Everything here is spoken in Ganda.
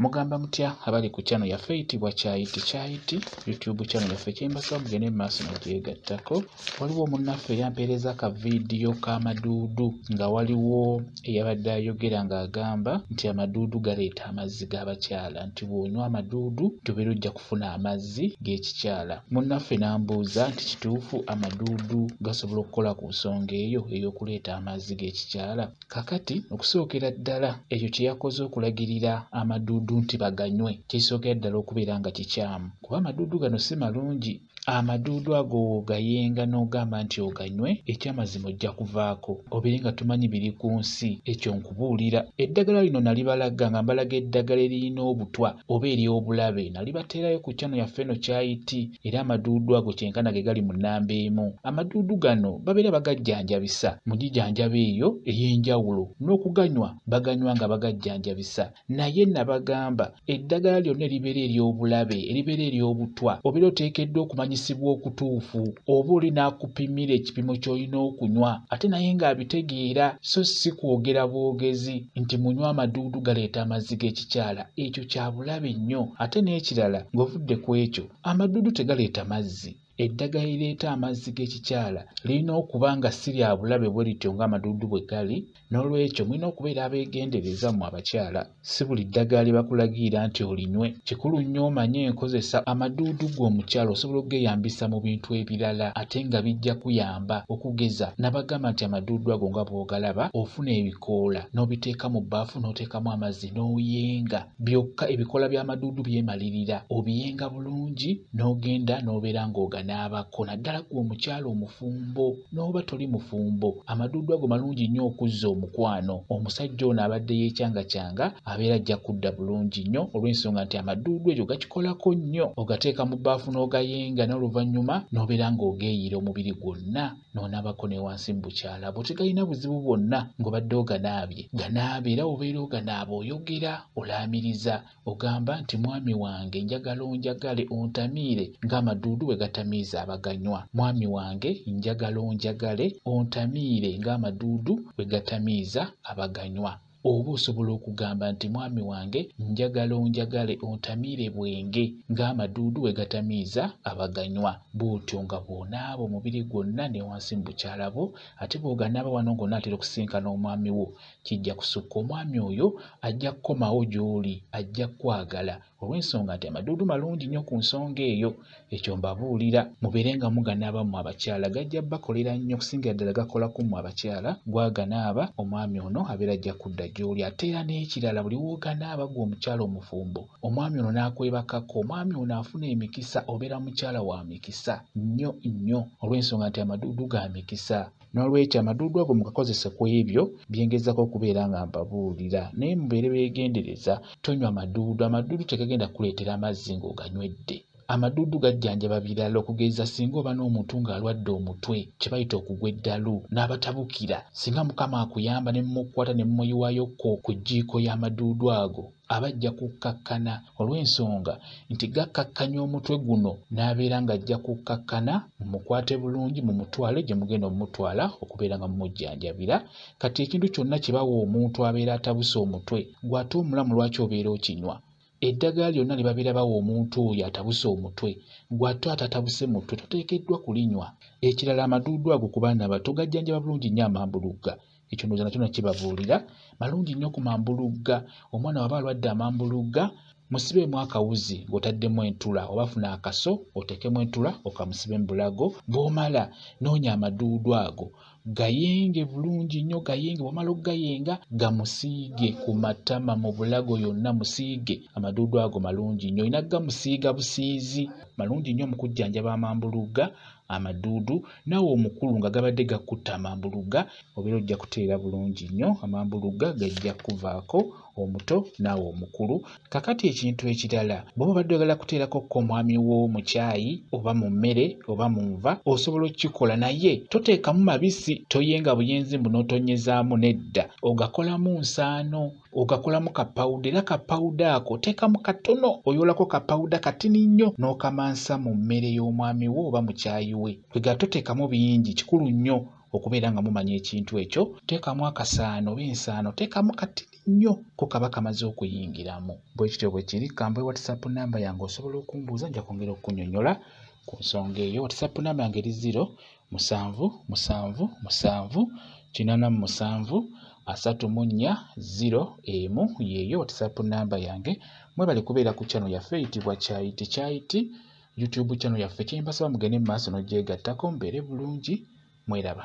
Mugamba mutya abali ku channel yaffe eyitibwa Kyayiti Kyayiti YouTube channel yaffe kyembasaba mugende mu maaso nogyegattako. Waliwo omunnaffe eyampeereza ka vidiyo ka maduudu nga waliwo eyabadde ayogera ng'agamba nti amaduudu galeeta amazzi g'abakyala nti bw'onywa amaduudu tubeera ojja kufuna amazzi g'ekikyala. Munnaffe n'ambuuza nti kituufu amaduudu gasobola okukola ku nsonga eyo ey'okuleeta amazzi g'ekikyala? Kakati okusookera ddala ekyo kye yakoze okulagirira amaduudu nti baganywe kisookera ddala okubeera nga kikyamu kuba amaduudu gano si malungi amaduudu ago w'ogayenga n'ogamba nti oganywe ekyamazima ojja kuvaako obeere nga tumanyi biri ku nsi ekyo nkubuulira eddagala lino nalibalaga nga mbalaga eddagala eririna obutwa oba ery'obulabe nalibateerayo ku kyano yaffe eno kyayiti era amaduudu ago kyenkana ge gali mu nnamba emu. Amaduudu gano babeera bagajjanjabisa mu gijanjaba eyo ey'enjawulo n'okuganywa baganywa nga bagajjanjabisa naye nabagamba eddagala lyonna eribeera ery'obulabe eribeera ery'obutwa obeera oteekeddwa okumanyisibwa okutuufu oba oli n'akupimira ekipimo ky'olina okunywa ate naye ng'abitegeera so si kwogera bwogezi nti munywa amaduudu galeeta amazzi g'ekikyala ekyo kya bulabe nnyo ate n'ekirala ng'ovudde ku ekyo amaddudu tegaleeta mazzi eddagala erireeta amazzi g'ekikyala lirina okuba nga si lya bulabe bwe lityo ng'amaduudu bwe gali n'olwekyo mulina okubeera abeegendereza mu abakyala si buli ddagala lye bakulagiira nti olinywe kikulu nnyo omanye enkozesa amaduudu gwe omukyala osobola okugeyambisa mu bintu ebirala ate nga bijja kuyamba okugeza nabagamba nti amaduudu ago nga bw'ogalaba ofuna ebikoola n'obiteeka mu bbaafu n'oteekamu amazzi n'oyenga byokka ebikoola by'amaduudu byemalirira obiyenga bulungi n'ogenda n'obeera ng'oganaabako naddala gwe omukyala omufumbo n'oba toli mufumbo amaduudu ago malungi nnyo okuzza omukwano omusajja ono abadde yeekyangakyanga abeera ajja kudda bulungi nnyo olw'ensonga nti amaduudu egyo gakikolako nnyo ogateeka mu bbaafu n'ogayenga n'oluvannyuma n'obeera ng'ogeeyiira omubiri gwonna n'onaabako ne wansi mu bukyala bwo tegalina buzibu bwonna ng'obadde oganaabye ganaaba era obeera oganaaba oyogera olaamiriza ogamba nti mwami wange njagala onjagale ontamiire ng'amaduudu bwe gatamiiza abaganywa mwami wange njagala onjagale ontamiire ng'amaduudu bwe gatamiiza abaganywa oba osobola okugamba nti mwami wange njagala onjagale ontamiire bwenge ng'amaduudu we gatamiiza abaganywa bw'otyo nga bw'onaaba omubiri gwonna ne wansi mu bukyala bwo ate bw'oganaaba wano ng'onaatera okusinkana omwami wo kijja kusukka omwami oyo ajja kukomawo gy'oli ajja kukwagala olw'ensonga nti amaduudu malungi nnyo ku nsonga eyo ekyo mbabuulira mubeere nga muganaaba mmwe abakyala gajja bakolera nnyo okusingira ddala gakola ku mmwe abakyala gwaganaaba omwami ono abeera ajja kudda gy'oli ate era n'ekirala buli wooganaaba gwe omukyala omufumbo omwami ono n'akwebakako omwami ono afuna emikisa obeera mukyala wa mikisa nnyo nnyo olw'ensonga nti amaduudu ga mikisa N'olwekyo amaduudu ago mugakozese ku ebyo bye ngezaako okubeera nga mbabuulira, naye mubeere beegendereza, tonywa maduudu. Amaduudu tegagenda kukuleetera mazzi ng'oganywedde. Amaduudu gajjanjaba birala okugeza singa oba n'omuntu ng'alwadde omutwe kye bayita okugwa eddalu n'abatabukira, singa Mukama akuyamba ne mumukwata ne mumuyiwayokko ku jjiiko y'amaduudu ago, aba ajja kukkakkana olw'ensonga nti gakkakkanya omutwe guno n'abeera ng'ajja kukkakkana mumukwate bulungi mumutwale gye mugenda omumutwala okubeera nga mumujjanjabira kati ekintu kyonna kye bawa omuntu abeera atabuse omutwe gw'ate omulamu lwaki obeera okinywa eddagala lyonna lye babeera bawa omuntu oyo atabuse omutwe gw'ate atatabuse mutwe toteekeddwa kulinywa ekirala amaduudu ago ku baana bato gajjanjaba bulungi nnyo amambulugga ekyo ndowooza nakyo nakibabuulira malungi nnyo ku mambulugga omwana waba alwadde amambulugga musibeemu akawuzi ng'otaddemu entula oba funa akaso oteekemu entula okamusibe mu bulago bw'omala noonya amaduudu ago gayenge bulungi nnyo gayenge bw'omala okugayenga gamusiige ku matama mu bulago yonna musiige amaduudu ago malungi nnyo olina gamusiiga busiizi malungi nnyo mu kujjanjaba amambulugga amaduudu naawe omukulu nga gabadde gakutta amambulugga obeera ojja kuteera bulungi nnyo amambulugga gajja kuvaako omuto naawe omukulu kakati ekintu ekirala bwoba obadde ogala kuteerako ko omwami wo mu kyayi oba mu mmere oba mu nva osobola okukikola naye toteekamu mabisi toyenga buyenzi mbu n'otonyezaamu nedda ogakolamu nsaano ogakolamu kapawuda era kapawuda ako oteekamu katono oyolako kapawuda katini nnyo n'okamansa mu mmere y'omwami wo oba mu kyayi we kwega toteekamu bingi kikulu nnyo okubeera nga mumanya ekintu ekyo teekamu akasaano oba ensaano teekamu katini nnyo ko kaba kamaze okuyingiramu bwe kityo bwe kiri kamba whatsapp namba yange osobola okumbuuza nja kwongera okukunyonyola ku nsonga eyo whatsapp namba yange eri ziro musanvu musanvu musanvu kinana mu musanvu asatu mu nnya ziro emu yeeyo whatsapp namba yange mwebale kubeera ku channel yaffe eyitibwa kyayiti kyayiti youtube channel yaffe kyembasaba mugende mu maaso n'ogyegattako mbeere bulungi mweraba